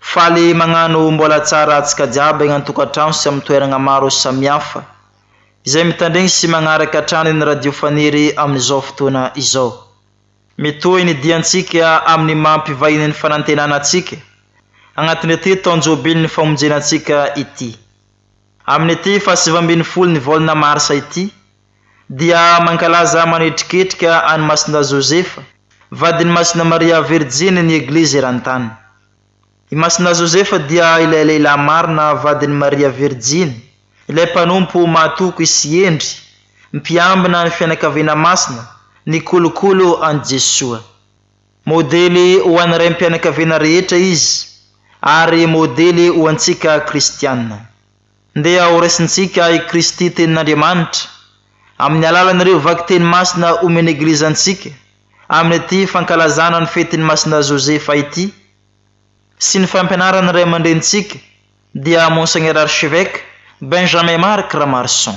Faly magnano mbola tsara atsika jiaby agny antokatrano sy am toeragna maro samihafa izay mitandregny sy magnaraka hatrany ny radio faniry amin'izao fotoana izao. Mitohy ny diantsika amin'ny maha mpivahiny ny fanantenana atsika agnatin'ity taon-jobilin'ny famonjena antsika ity. Amin'ity fahasivambinifolo ny volana marsa ity dia mankalaza manetriketrika an'i Masindahy Josefa, vadin'i Masina Maria Virjiny ny Eglizy eran-tany. I Masindahy Josefa dia ilay lehilahy marina vadin'i Maria Virjiny, ilay mpanompo mahatoky sy hendry, mpiambina ny fianakaviana masina, ny kolokolo an'i Jesoa. Modely ho an'ny raim-pianakaviana rehetra izy ary modely ho antsika kristiana. Ndeha horaisintsika i Kristy Tenin'Andriamanitra amin'ny alalan'ireo vakiteny masina omen'ny Eglizy antsika amin'ity fankalazana ny fetin'i Masina Josefa ity sy ny fampianaran'ny Ray aman-drenintsika dia Monseigneur Archevêque Benjamin Marc Ramarson.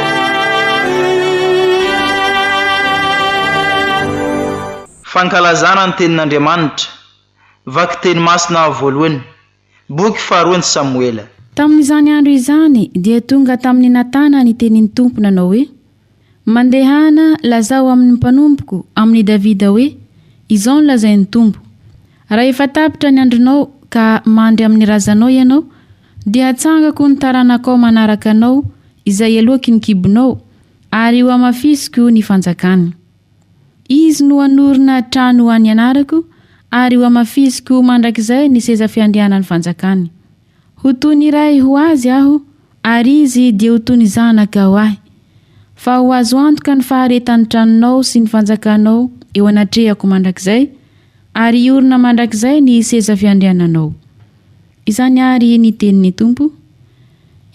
Fankalazana ny Tenin'Andriamanitra, Vakiteny Masina Voalohany, Boky faharoan'i Samoela. Tamin'izany andro izany dia tonga tamin'i Natana ny tenin'ny Tompo nanao hoe, Mandehana, lazao amin'ny mpanompoko, amin'i Davida hoe, Izao no lazain'ny Tompo, Raha efa tapitra ny andronao ka mandry amin'ny razanao ianao, Dia hatsangako ny taranakao manaraka anao, izay heloaky ny kibonao, ary hohamafisiko ny fanjakany. Izy no hanorina trano ho an'ny anarako, ary hohamafisiko mandrakizay ny seza fiandrianan'ny fanjakany. Ho toy ny ray ho azy aho, ary izy dia ho toy ny zanaka ho ahy. Fa ho azo antoka ny faharetan'ny tranonao sy ny fanjakanao eo anatrehako mandrakizay, Ary hiorina mandrakizay ny seza fiandriananao. Izany àry ny tenin'ny Tompo.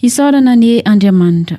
Hisaorana anie Andriamanitra.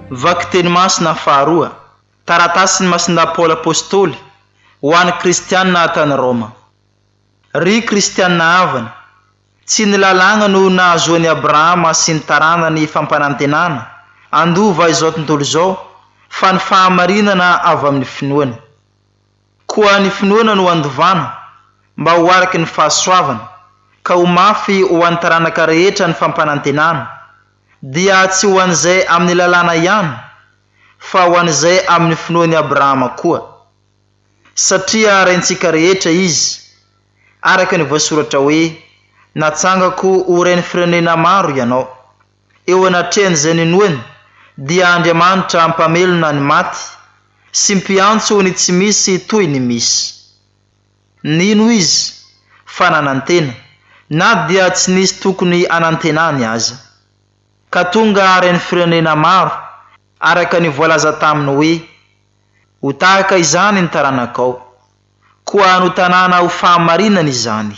Vakiteny masina faharoa, Taratasin'i Masindahy Paoly Apostoly ho an'ny Kristianina tany Roma. Ry Kristianina havana, tsy ny lalàna no nahazoan'i Abrahama sy ny taranany fampanantenana handova izao tontolo izao fa ny fahamarinana avy amin'ny finoana. Koa ny finoana no handovana, mba ho araky ny fahasoavana, ka ho mafy ho an'ny taranaka rehetra ny fampanantenana, dia tsy ho an'izay amin'ny lalàna ihany, fa ho an'izay amin'ny finoan'i Abrahama koa. Satria raintsika rehetra izy, araka ny voasoratra hoe, Natsangako ho rain'ny firenena maro ianao. eo anatrehan'izay ninoany, dia Andriamanitra Mpamelona ny maty sy Mpiantso ny tsy misy toy ny misy. Nino izy fa nanantena, na dia tsy nisy tokony hanantenany aza. Ka tonga haren'ny firenena maro, araka ny voalaza taminy hoe, Ho tahaka izany ny taranakao. Koa notanana ho fahamarinana izany.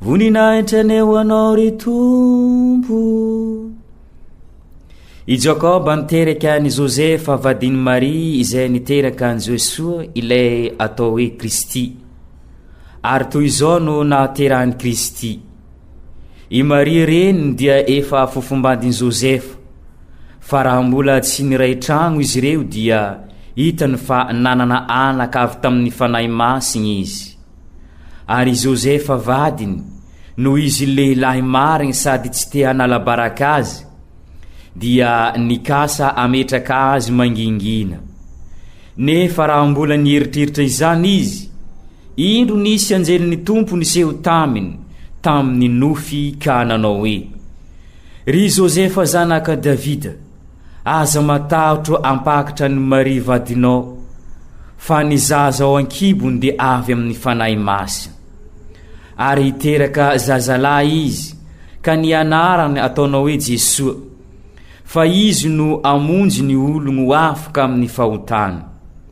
Voninahitra ny ho anao ry Tompo. I Jakoba niteraka an'i Josefa vadin'i Maria izay niteraka an'i Jesoa ilay atao hoe Kristy. Ary toy izao no nahaterahan'i Kristy. I Maria reniny dia efa fofombandin'i Josefa, fa raha mbola tsy niray tragno izy ireo dia hitany fa nanana anaka avy tamin'ny Fanahy Masina izy. Ary i Josefa vadiny, noho izy lehilahy marigny sady tsy te hanala baraka azy, dia nikasa hametraka azy mangingina. Nefa raha mbola nieritreritra izany izy, indro nisy anjelin'ny Tompo niseho taminy tamin'ny nofy ka nanao hoe, Ry Josefa zanaka Davida, Aza matahotra hampakatra an'i Maria vadinao, fa ny zaza ao an-kibony dia avy amin'ny Fanahy Masina. Ary hiteraka zazalahy izy, ka ny anarany ataonao hoe Jesoa, fa izy no hamonjy ny ologny ho afaka amin'ny fahotany.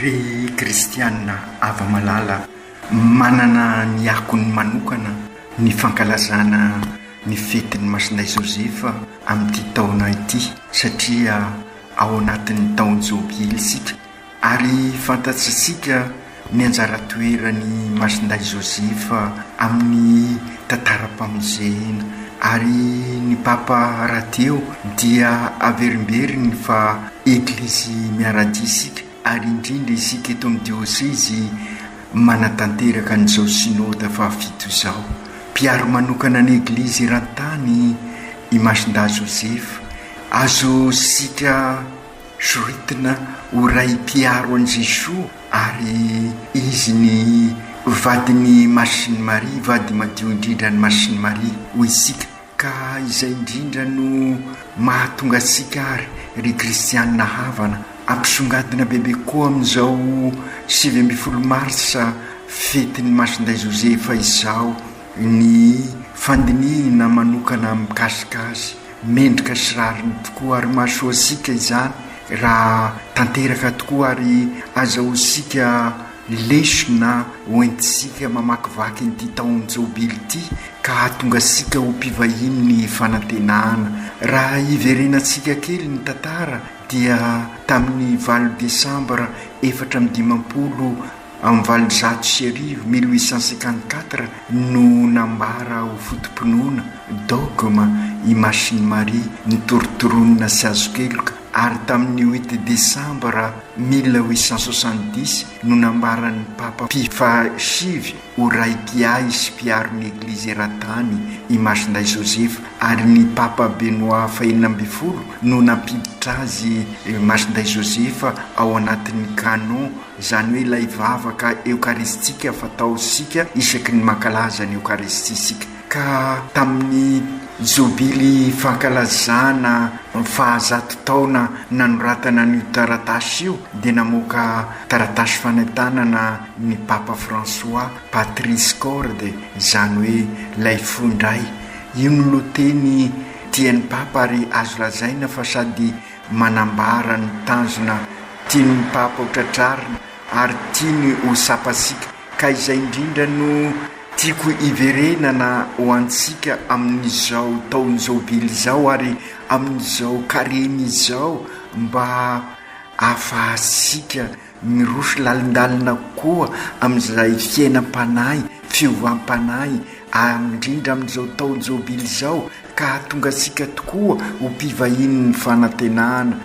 Ry kristiana hava-malala, manana ny akony manokana ny fankalazana ny fetin'i Masindahy Joseph amin'ity taona ity satria ao anatin'ny taon-jobily isika ary fantatsisika Ny anjara toeran'i Masindahy Joseph amin'ny tantaram-pamonjena. Ary ny Papa rahateo dia averimberiny fa Eglizy miara-dia isika, ary indrindra isika eto amin'ny Diosezy manatanteraka an'izao Synoda fahafito izao. Mpiaro manokana ny Eglizy eran-tany i Masindahy Joseph. Azontsika. Zoritina ho ray mpiaro an'i Jesoa ary izy ny vadin'i Masin'i Maria, vady madio indrindra an'i Masin'i Maria hoy isika. Ka izay indrindra no mahatonga antsika ary ry kristianina havana ampisongadina bebe koa amin'izao sivy ambin'ny folo marsa fetin'i Masindahy Josefa izao, Ny fandinihina manokana mikasika azy, mendrika sy rariny tokoa ary mahasoa antsika izany raha tanteraka tokoa ary azahoantsika lesona hoentintsika mamakivaky ity taon'ny Jobily ity ka hahatonga antsika ho mpivahinin'ny fanantenana. Raha hiverenantsika kely ny tantara dia tamin'ny valo desambra efatra amby dimampolo Amin'ny valonjato sy arivo, mille huit cent cinquante quatre, no nambara ho foto-pinoana, dogma, i Masin'i Maria, nitorontoronina sy azo keloka, ary tamin'ny huit desambra mille huit cent soixante dix no nambaran'ny Papa Pio fahasivy ho Raikiahy sy Mpiaro ny Eglizy Eran-tany i Masindahy Joseph, ary ny Papa Benoit fahenina ambin'ny folo no nampiditra azy, Masindahy Joseph, ao anatin'ny Canon. izany hoe ilay vavaka eokaristika fataontsika isaky ny mankalaza ny Eokaristia isika, ka tamin'ny Jobily fankalazana ny fahazato taona nanoratana an'io taratasy io dia namoaka taratasy fanentanana ny Papa François, Patris Corde, izany hoe ilay fo indray. Io no lohateny tian'ny Papa ary azo lazaina fa sady manambara ny tanjona tiany ny Papa ho tratrarina ary tiany ho sapasika, ka izay indrindra no tiako hiverenana ho antsika amin'izao taon-jobily izao ary amin'izao Karemy izao mba ahafahantsika Miroso lalindalina koa amin'izay fiainam-panahy, fiovam-panahy, ary indrindra amin'izao taon-jobily izao, ka hahatonga antsika tokoa ho mpivahinin'ny fanantenana.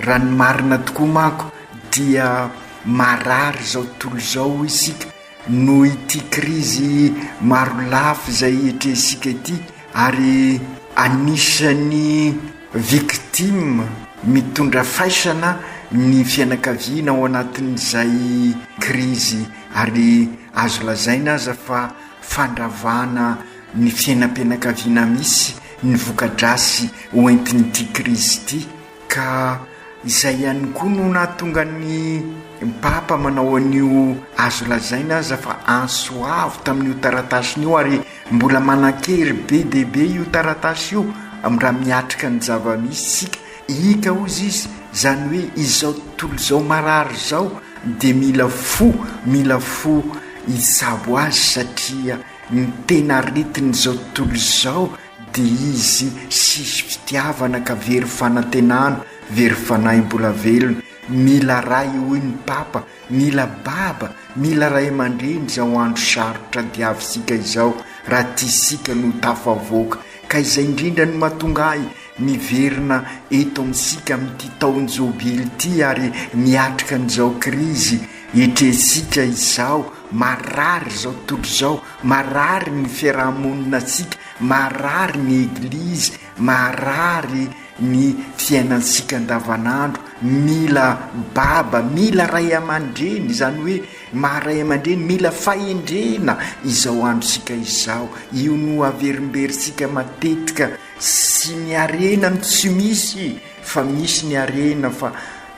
Raha ny marina tokoa manko, dia marary izao tontolo izao isika, Noho ity krizy maro lafy izay etrehintsika ity ary anisan'ny victimes mitondra faisana ny fianakaviana ao anatin'izay krizy ary azo lazaina aza fa fandravana ny fiainam-pianakaviana misy ny voka-drasy hoentin'ity krizy ity. Ka izay ihany koa no nahatonga ny Papa manao an'io azo lazaina aza fa antso avo tamin'io taratasiny io, ary mbola manan-kery be dia be io taratasy io raha miatrika ny zava-misy isika. Ika hozy izy, izany hoe izao tontolo izao marary izao dia mila fo, mila fo hitsabo azy satria ny tena aretin'izao tontolo izao Dia izy siso fitiavana ka very fanantenana, very fanahy mbola velona, mila ray hoy ny papa, mila baba, mila ray aman-dreny izao andro sarotra diavisika izao raha tia isika no tafavoaka. Ka izay indrindra no mahatonga ahy miverina eto amintsika amin'ity taon-jobily ity ary miatrika an'izao krizy etrentsika izao, marary izao tontolo izao, Marary ny fiaraha-moninantsika, marary ny Eglizy, marary ny fiainantsika andavanandro, mila baba, mila ray aman-dreny, izany hoe maha ray aman-dreny, mila fahendrena izao androntsika izao, io no averimberintsika matetika sy ny harena no tsy misy fa misy ny harena fa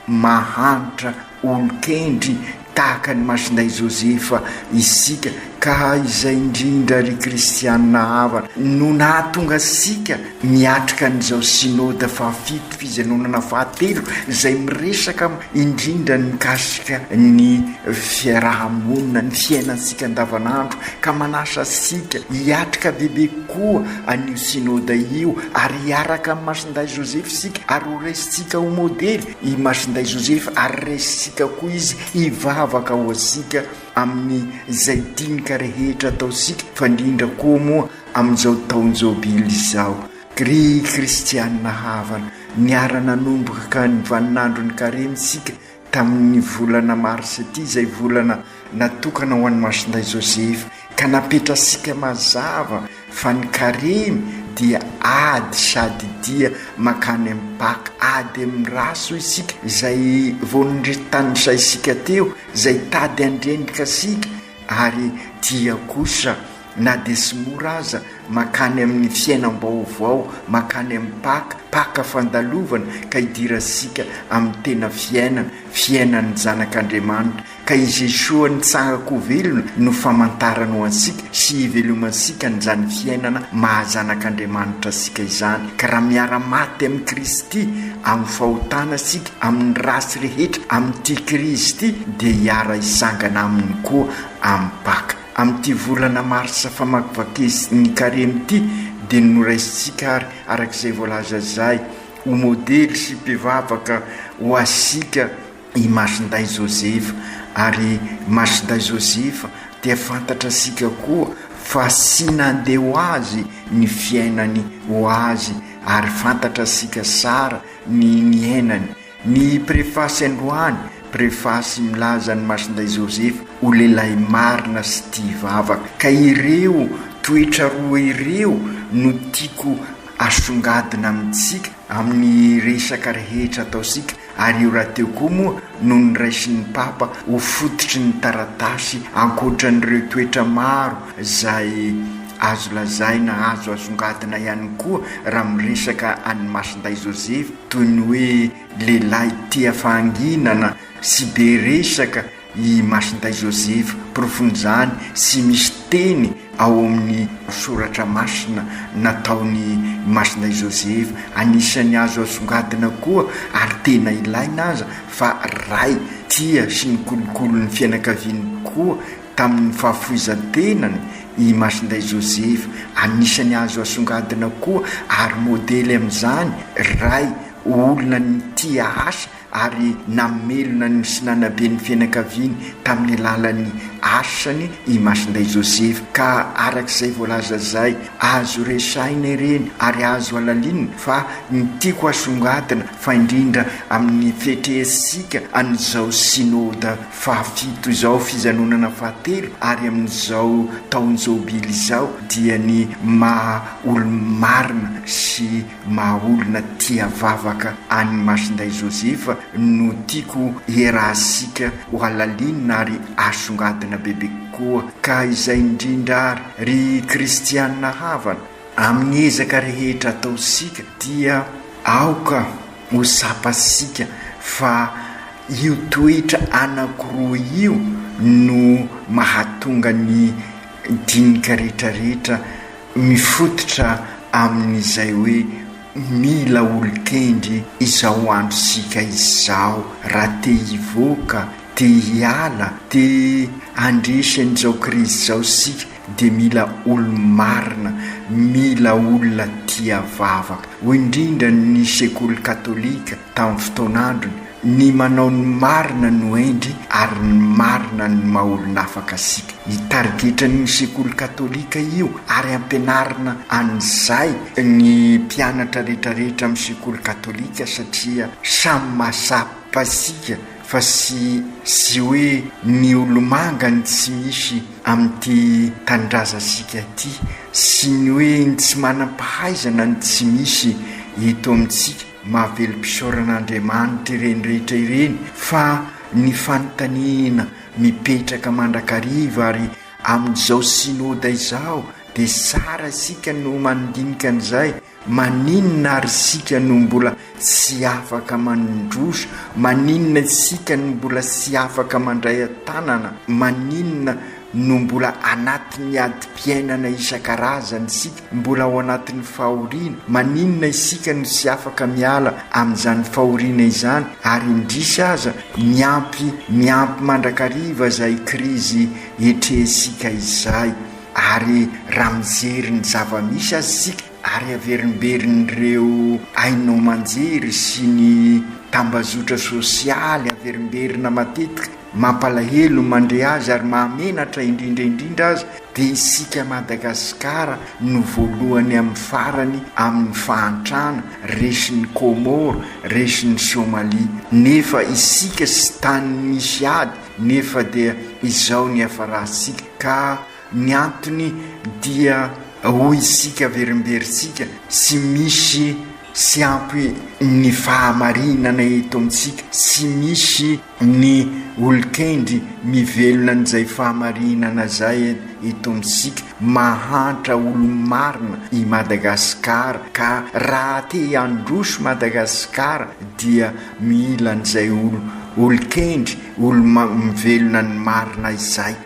mahantra. Olon-kendry tahaka an'i Masindahy Joseph isika ka izay indrindra ry kristianina havana no nahatonga antsika miatrika an'izao Synode fahafito, fijanonana fahatelo izay miresaka indrindra ny mikasika ny fiaraha-monina, ny fiainantsika andavanandro ka manasa antsika hiatrika bebe koa an'io Synode io ary hiaraka amin'i Masindahy Joseph isika ary horesintsika ho modely. i Masinday Joseph ary resitsika koa izy hivavaka ho antsika amin'ny izay dinika rehetra ataontsika fa indrindra koa moa amin'izao taon'ny jobily izao. Ry kristianina havana, niara-nanomboka ny vaninandron'ny karemy isika tamin'ny volana marsa ity izay volana natokana ho an'i Masindahy Joseph ka napetrasika mazava fa ny karemy dia ady sady dia makany amin'ny Paka ady amin'ny race hoy isika izay vao nrtanisaisika teo izay tady handrendrika asika ary dia kosa na dia tsy mora aza makany amin'ny fiainam-baovao makany amin'ny Paka Paka fandalovana ka idirantsika amin'ny tena fiainana fiainan'ny zanak'Andriamanitra Ka i Jesoa nitsangako velona no famantarany ho antsika sy hivelomantsika an'izany fiainana maha zanak'Andriamanitra antsika izany. Ka raha miara-maty amin'i Kristy amin'ny fahotana isika amin'ny ratsy rehetra amin'ity krizy ity dia hiara-hisangana Aminy koa amin'ny Paka. Amin'ity volana marsa famakivakiz ny Karemy ity dia noraisintsika ary arak'izay voalaza izay ho modely sy mpivavaka ho asika i Masindahy Joseph ary Masindahy Joseph dia fantatra sika koa fa sy nandeha ho azy ny fiainany ho azy ary fantatra sika sara ny niainany ny prefasy androany prefasy milaza an'i Masindahy Joseph ho lehilahy marina sy tia vavaka ka ireo toetra roa ireo no tiako asongadina amintsika amin'ny resaka rehetra ataosika Ary io rahateo koa moa no niraisin'ny Papa ho fototry ny taratasy ankoatran'ireo toetra maro izay azo lazaina azo asongadina ihany koa raha miresaka an'i Masindahy Joseph toy ny hoe lehilahy tia fahanginana sy be resaka I Masindahy Joseph porofon'izany sy misy teny ao amin'ny soratra masina nataon'i Masindahy Joseph anisan'ny azo asongadina koa ary tena ilaina aza fa Ray tia sy nikolokolo ny fianakaviany koa tamin'ny fahafoizan-tenany i Masindahy Joseph anisan'ny azo asongadina koa ary modely amin'izany Ray olona nitia asa ary namelona ny msinanaben'ny fianakaviany tamin'ny alalan'ny asany i Masindahy Joseph ka araka izay voalaza zay azo resahina ireny ary azo alalinina fa ny tiako asongadina fa indrindra amin'ny fetreansika an'izao Synode fahafito izao fijanonana fahatelo ary amin'izao taon-jobily izao dia ny maha olo-marina sy Maha olona tia vavaka an'i Masindahy Joseph no tiako hiaraha-sika hohalalinina ary hasongadina bebe kokoa ka izay indrindra ary ry kristianina havana, amin'ny ezaka rehetra ataontsika dia aoka ho tsapantsika fa io toetra anankiroa io no mahatonga ny dinika rehetra rehetra Mifototra amin'izay hoe mila olon-kendry izao androntsika izao raha te hivoaka, te hiala, te handresy an'izao krizy izao isika dia mila olo-marina, mila olona tia vavaka. Indrindra ny sekoly katolika tamin'ny fotoan'androny, ny manao ny marina no hendry ary ny marina no maha olon'afaka antsika. Ny tarigetran'io sekoly katolika io ary ampianarina an'izay ny mpianatra retraretra amin'ny sekoly katolika satria samy mahatsapa antsika fa tsy tsy hoe ny olomanga ny tsy misy amin'ity tanindrazantsika ity, tsy ny hoe ny tsy manam-pahaizana no tsy misy eto amintsika. Mahavelom-pisaoran'Andriamanitra ireny rehetra ireny fa ny fanontaniana mipetraka mandrakariva ary amin'izao Synoda izao dia tsara isika no mandinika an'izay, maninona ary isika no mbola tsy afaka mandroso, maninona isika no mbola tsy afaka mandray an-tanana, maninona, no mbola anatin'ny adim-piainana isan-karazany isika, mbola ao anatin'ny fahoriana, maninona isika no tsy afaka miala amin'izany fahoriana izany ary indrisy aza miampy miampy mandrakariva izay krizy etrehintsika izay? Ary raha mijery ny zava-misy aza isika, ary haverimberin'ireo haino aman-jery sy ny tambazotra sosialy averimberina matetika, mampalahelo, mandre azy ary mahamenatra indrindra indrindra aza dia isika Madagasikara no voalohany amin'ny farany amin'ny fahantrana, resin'i Comore, resin'i Somalia, nefa isika sitany misy ady nefa dia izao ny hiafarantsika ka Ny antony dia hoy isika averimberintsika tsy misy tsy ampy ny fahamarinana eto amintsika, tsy misy ny olon-kendry mivelona an'izay fahamarinana izay eto amintsika, mahantra olo-marina i Madagasikara ka raha te handroso Madagasikara dia mila an'izay olo-kendry, olo-mivelona ny marina izay.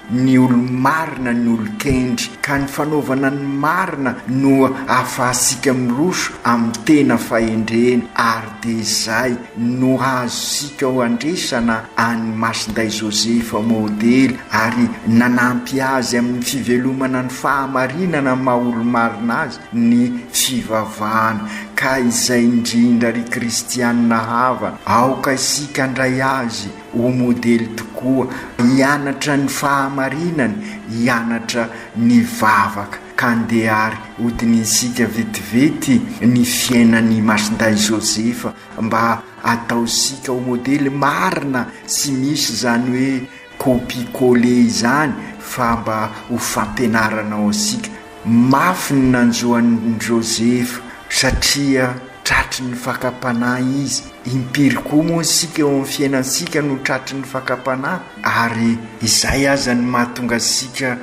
ny olo-marina ny olon-kendry, ka ny fanaovana ny marina no ahafahantsika miroso amin'ny tena fahendrena, ary dia izay no azontsika handresana an'i Masindahy Joseph modely, ary nanampy azy amin'ny fivelomana ny fahamarinana maha olo-marina azy ny fivavahana, ka izay indrindra ry kristianina havana, aoka isika handray azy. Ho modely tokoa, hianatra ny fahamarinana, hianatra ny vavaka, ka ndeha ary hodinintsika vetivety ny fiainany i Masindahy Joseph mba hataontsika ho modely marina tsy misy izany hoe copie coller izany fa mba ho fampianarana ho antsika Mafy ny nanjo an'i Joseph satria tratry ny fakam-panahy izy. Impiry koa moa isika eo amin'ny fiainantsika no tratry ny fakam-panahy, ary izay aza no mahatonga antsika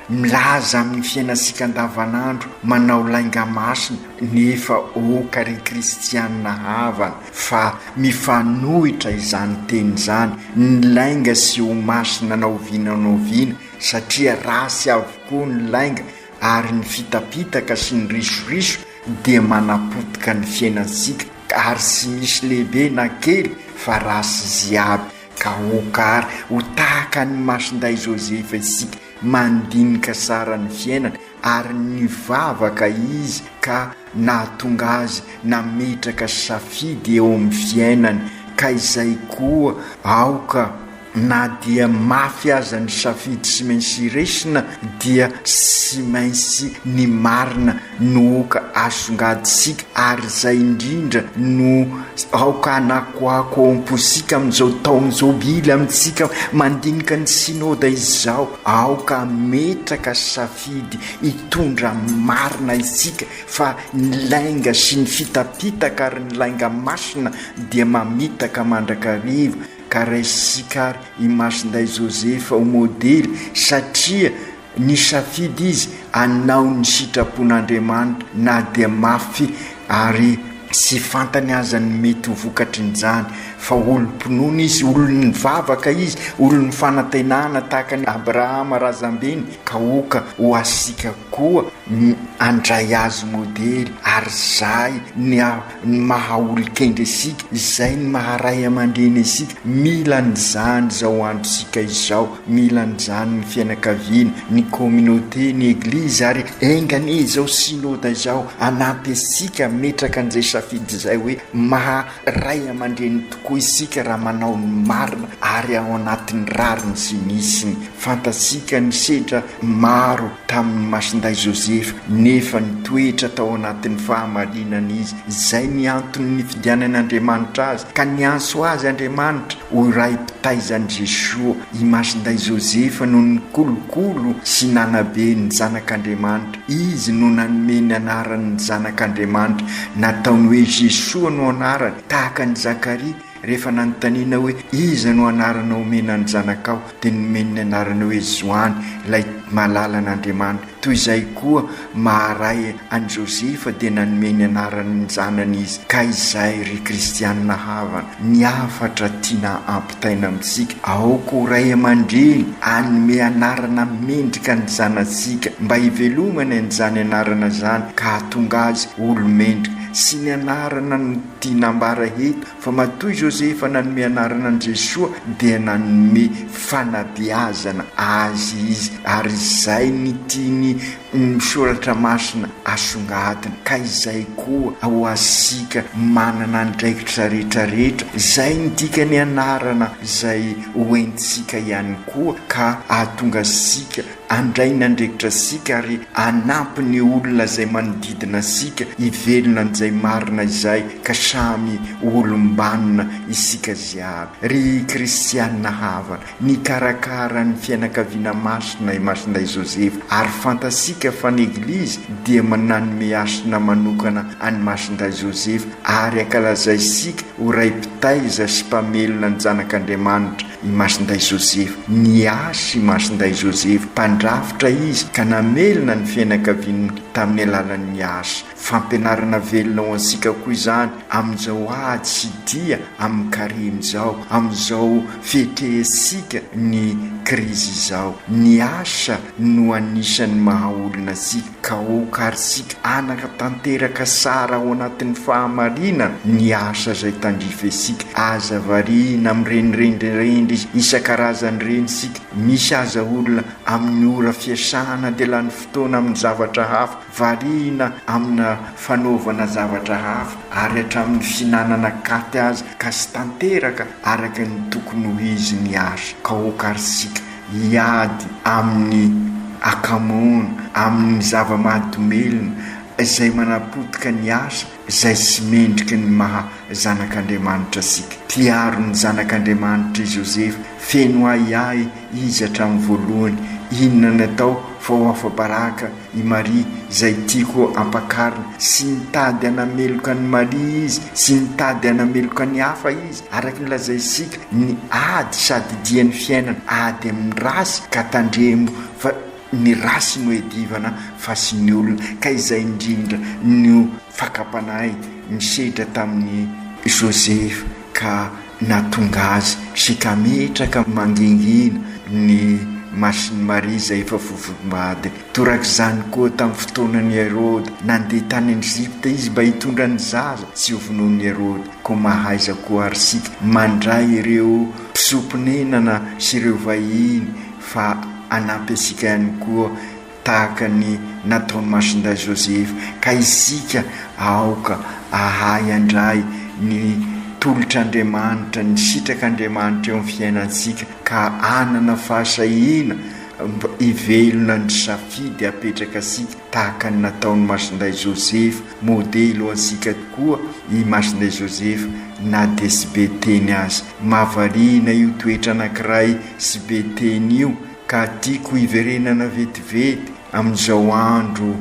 milaza amin'ny fiainantsika andavanandro, manao lainga masina, nefa aoka ry kristianina havana fa mifanohitra izany teny izany, ny lainga sy ho masina na oviana na oviana satria ratsy avokoa ny lainga ary ny fitapitaka sy ny risoriso dia manapotika ny fiainantsika ary tsy misy lehibe na kely fa ratsy izy aby ka aoka ary ho tahaka an'i Masindahy Joseph isika mandinika tsara ny fiainana ary nivavaka izy ka nahatonga azy nametraka safidy eo amin'ny fiainany ka izay koa aoka Na dia mafy aza ny safidy sy mainsy hiresina dia sy mainsy ny marina no oka asongadintsika ary izay indrindra no aoka anakoako ao amposika amin'izao taona zao mila amintsika mandinika ny synoda izao aoka ametraka safidy hitondra marina isika fa ny lainga sy ny fitapitaka ary ny lainga masina dia mamitaka mandrakariva ka raisintsika ary i Masindahy Joseph ho modely satria nisafidy izy hanao ny sitrapon'Andriamanitra na dia mafy ary tsy fantany aza ny mety ho vokatrin'izany fa olom-pinoana izy, olom-mivavaka izy, olom-fanantenana tahaka an'i Abrahama razambeny ka oka ho asika koa handray azy modely ary zahy ny ny maha olon-kendry isika, izay ny maha ray aman-dreny isika, mila an'izany izao androntsika izao, mila an'izany ny fianakaviana, ny communauté, ny eglizy ary enga anie izao synoda izao hanampy antsika hametraka an'izay safidy izay hoe maha ray aman-dreny tokoa isika raha manao ny marina ary ao anatin'ny rariny sy ny hisiny, fantatsika ny sedra Maro tamin'ny masindahy Joseph nefa nitoetra tao anatin'ny fahamarinana izy. Izay ny antony nifidianan'Andriamanitra azy, ka niantso azy Andriamanitra ho iray mpitaizan'i Jeshoa. I masindahy Joseph no nikolokolo sy nanabe ny zanak'Andriamanitra. Izy no nanome ny anaran'ny zanak'Andriamanitra nataony hoe Jeshoa no anarany, tahaka an'i Zakaria. Rehefa nanontaniana hoe, Iza no anarana omena ny zanakao? dia nomeny ny anarana hoe Joany, ilay mahalala an'Andriamanitra. Toy izay koa, maha ray an'i Josefa dia nanome ny anarany ny zanany izy. Ka izay, ry kristianina havana, ny hafatra tiana ampitaina amintsika, aoka ho ray aman-dreny hanome anarana mendrika ny zanatsika, mba hivelomany an'izany anarana izany ka hahatonga azy olo-mendrika, sy ny anarana Dia nambara eto fa matoa i Josefa nanome anarana an'i Jesoa dia nanome fanabeazana Azy izy ary izay ny tian'ny Soratra Masina asongadina ka izay koa ho asika manana andraikitra rehetra rehetra izay ny dikany anarana izay ho entintsika ihany koa ka ahatonga asika Handray ny andraikitra isika ary hanampy ny olona izay manodidina antsika hivelona an'izay marina izay ka samy ho olom-banona isika jiaby. Ry kristiana havana, nikarakara ny fianakaviana masina i Masindahy Joseph ary fantatsika fa ny Eglizy dia mananome hasina manokana an'i Masindahy Joseph ary ankalazaisika ho Ray mpitaiza sy mpamelona ny Zanak'Andriamanitra I Masindahy Joseph. Niasa i Masindahy Joseph mpandrafitra izy ka namelona ny fianakaviany tamin'ny alalan'ny asa. Fampianarana velona ho antsika koa izany amin'izao ady sy dia amin'ny karemy izao, amin'izao fihetrehantsika ny krizy izao. Ny asa no anisan'ny maha olona antsika. Ka ô karsika anaka tanteraka sara ao anatin'ny fahamarinan ny asa zay tandrifesika aza variana amin'ireny rendrerendry isakarazany ireny sika misy aza olona amin'ny ora fiasana dia lany fotoana amin'ny zavatra hafa variana amina fanaovana zavatra hafa ary hatramin'ny fihinanana katy aza ka sy tanteraka araka ny tokony ho izy ny asa ka ô karsika hiady amin'ny akamoana, amin'ny zava-mahadomelina, izay manapotika ny asa, izay tsy mendrika ny maha zanak'Andriamanitra antsika. Mpiaro ny zanak'Andriamanitra i Joseph, feno ahiahy izy hatramin'ny voalohany. Inona no atao fa ho afa-baraka? I Maria izay tiako ampakarina, sy nitady hanameloka an'i Maria izy, sy nitady hanameloka ny hafa izy, araka ny lazainsika, ny ady sady dian'ny fiainana, ady amin'ny race ka tandremo fa ny race no edivana fa sy ny olona, ka izay indrindra no. Fakam-panahy misedra tamin'i Joseph ka nahatonga azy sekametraka mangingina ny masin'i Maria izay efa vovobady. Torak'izany koa tamin'ny fotoanan'i Heroda. Nandeha tany Egypta izy mba hitondra ny zaza tsy ho vonoin'i Heroda. Koa mahaiza koa àry isika mandray ireo mpisoa-ponenana sy ireo vahiny fa hanampy antsika ihany koa tahaka ny nataon'i Masindahy Joseph, ka isika aoka ahay handray ny tolotr'Andriamanitra, ny sitrak'Andriamanitra eo amin'ny fiainantsika, ka hanana fahasahiana mba hivelona ny safidy apetraka antsika, tahaka ny nataon'i Masindahy Joseph, modely ho antsika tokoa i Masindahy Joseph na dia tsy be teny aza. Mahavariana io toetra anankiray tsy be teny io, Ka tiako hiverenana vetivety amin'izao andro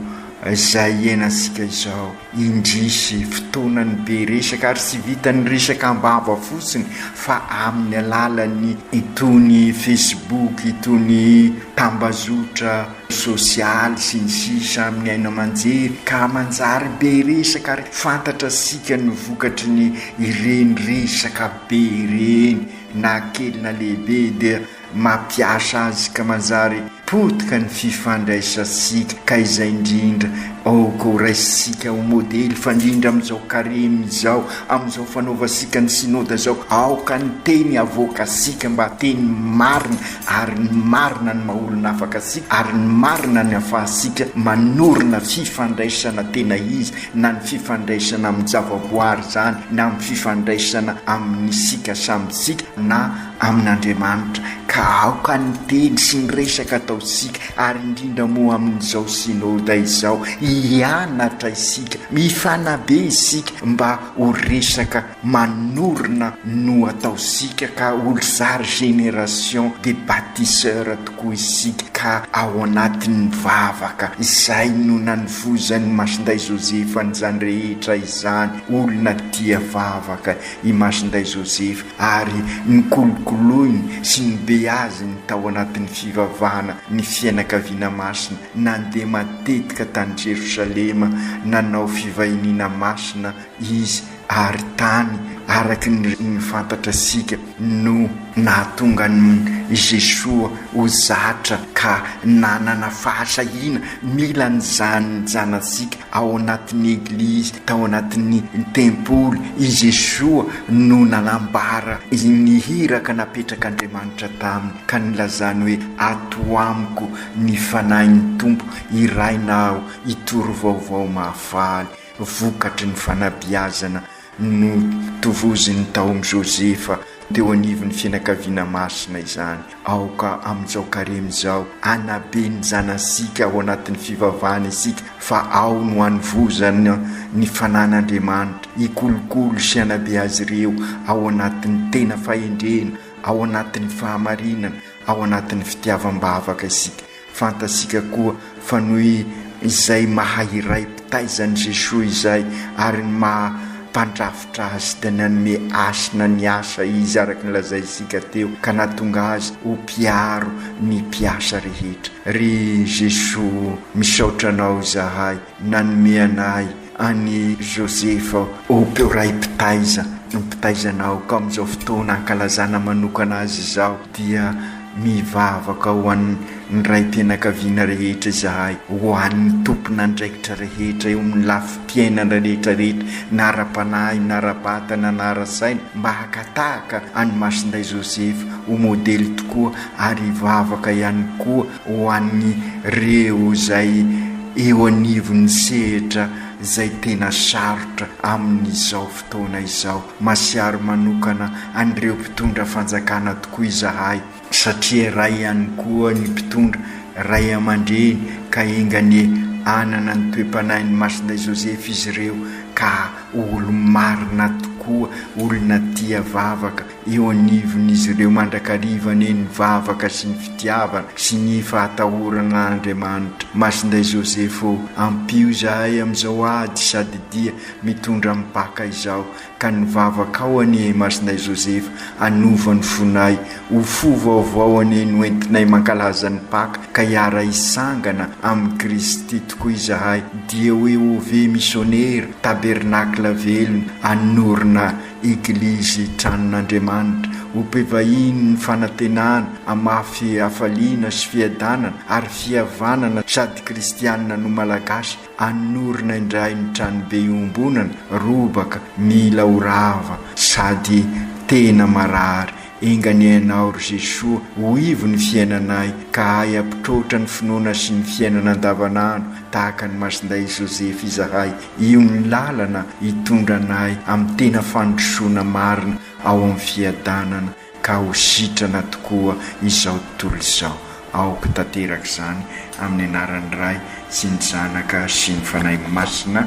izay hiainantsika izao. Indrisy, fotoanan'ny be resaka ary tsy vitan'ny resaka am-bava fotsiny fa amin'ny alalan'ny itony Facebook, itony tambazotra sosialy sy ny sisa amin'ny haino aman-jery ka manjary be resaka ary fantatrasika ny vokatry ny ireny resaka be ireny na kely na lehibe dia mampiasa azy ka manjary potika ny fifandraisantsika ka izay indrindra aoka ho raisintsika ho modely fandrindra amin'izao karemy izao amin'izao fanaovantsika ny synoda izao aoka ny teny avoakantsika mba teny marina ary ny marina no mahaolona afaka antsika ary ny marina ny afahantsika manorina fifandraisana tena izy na ny fifandraisana amin'ny javaboary izany na amin'ny fifandraisana amin'isika samyntsika na amin'Andriamanitra ka aoka ny teny sy ny resaka ataontsika ary indrindra moa amin'izao Synoda izao hianatra isika, mifanabe isika mba ho resaka manorina no ataontsika ka olozary génération des bâtisseurs tokoa isika ka ao anatin'ny vavaka izay no nanovoizan'i Masindahy Joseph an'izany rehetra izany, olona tia vavaka. i Masinday Joseph ary nokolokoloiny sy nobeaziny tao anatin'ny fivavahana ny fianakaviana masina nandeha matetika tany Jerosalema nanao fivahiniana masina izy ary tany araka ny fantatratsika no nahatonga an'i Jesoa ho zatra ka nanana fahasahiana mila an'izany ny zanatsika Ao anatin'ny Eglizy, tao anatin'ny Tempoly, i Jesoa no nanambara ny hiraka napetrak'Andriamanitra taminy ka nilazany hoe, Ato amiko ny Fanahin'ny Tompo, hiraina aho, hitory vaovao mahafaly, vokatry ny fanabeazana Notovozin'i Taomy Joseph teo anivon'ny fianakaviana masina izany. Aoka amin'izao karemy izao hanabe ny zanasika ao anatin'ny fivavahana isika fa ao no hanovozana ny fanan'Andriamanitra, hikolokolo sy hanabe azy ireo ao anatin'ny tena fahendrena, ao anatin'ny fahamarinana, ao anatin'ny fitiavam-bavaka isika. Fantatsika koa fa noho izay maha iray mpitaiza an'i Jesoa izay ary ny maha mpandrafitra Azy dia nanome hasina ny asa Izy araka ny lazaintsika teo ka nahatonga Azy ho mpiaro ny mpiasa rehetra. Ry Jesoa, misaotra Anao izahay Nanome ana ahy an'i Joseph Hope Ray Mpitaiza. Ny mpitaizana aoka amin'izao fotoana ankalazana manokana azy izao dia mivavaka ho an'ny raim-pianakaviana rehetra izahay, ho an'ny tompon'andraikitra rehetra eo amin'ny lafim-piainana rehetra rehetra na ara-panahy na ara-batana na ara-saina mba hakatahaka an'i Masindahy Joseph ho modely tokoa ary hivavaka ihany koa ho an'ireo izay eo anivon'ny sehatra izay tena sarotra amin'izao fotoana izao. Masiaro manokana an'ireo mpitondra fanjakana tokoa izahay, satria iray ihany koa ny mpitondra, ray aman-dreny, ka enga anie hanana ny toe-panahin'i Masindahy Joseph izy ireo ka ho olo-marina tokoa, olona tia vavaka, eo anivon'izy ireo mandrakariva ny ny vavaka sy ny fitiavana sy ny fahatahorana an'Andriamanitra. Masinday Joseph ô, ampio izahay amin'izao ady sady dia mitondra mipaka izao, ka ny vavakao anie Masinday Joseph hanova ny fonay ho fo vaovao anie no entinay mankalaza ny Paka ka hiara-hisangana amin'i Kristy tokoa izahay, dia hoe OV Missionnaire, Tabernacle velona, hanorina Eglizy Tranon'Andriamanitra, ho mpivahiny ny fanantenana, hamafy hafaliana sy fiadanana ary fihavanana sady kristianina no Malagasy, hanorina indray ny tranobe iombonana, robaka, mila ho rava sady tena marary. Enga anie Ianao, ry Jesoa, ho ivo ny fiainanay, ka ahy hampitroatra ny finoana sy ny fiainana andavanandro, tahaka an'i Masindahy Joseph izahay. Io ny lalana hitondra anay amin'ny tena fandrosoana marina ao amin'ny fiadanana, ka ho sitrana tokoa izao tontolo izao. Aoka tanteraka izany, amin'ny anaran'ny Ray sy ny Zanaka sy ny Fanahy Masina.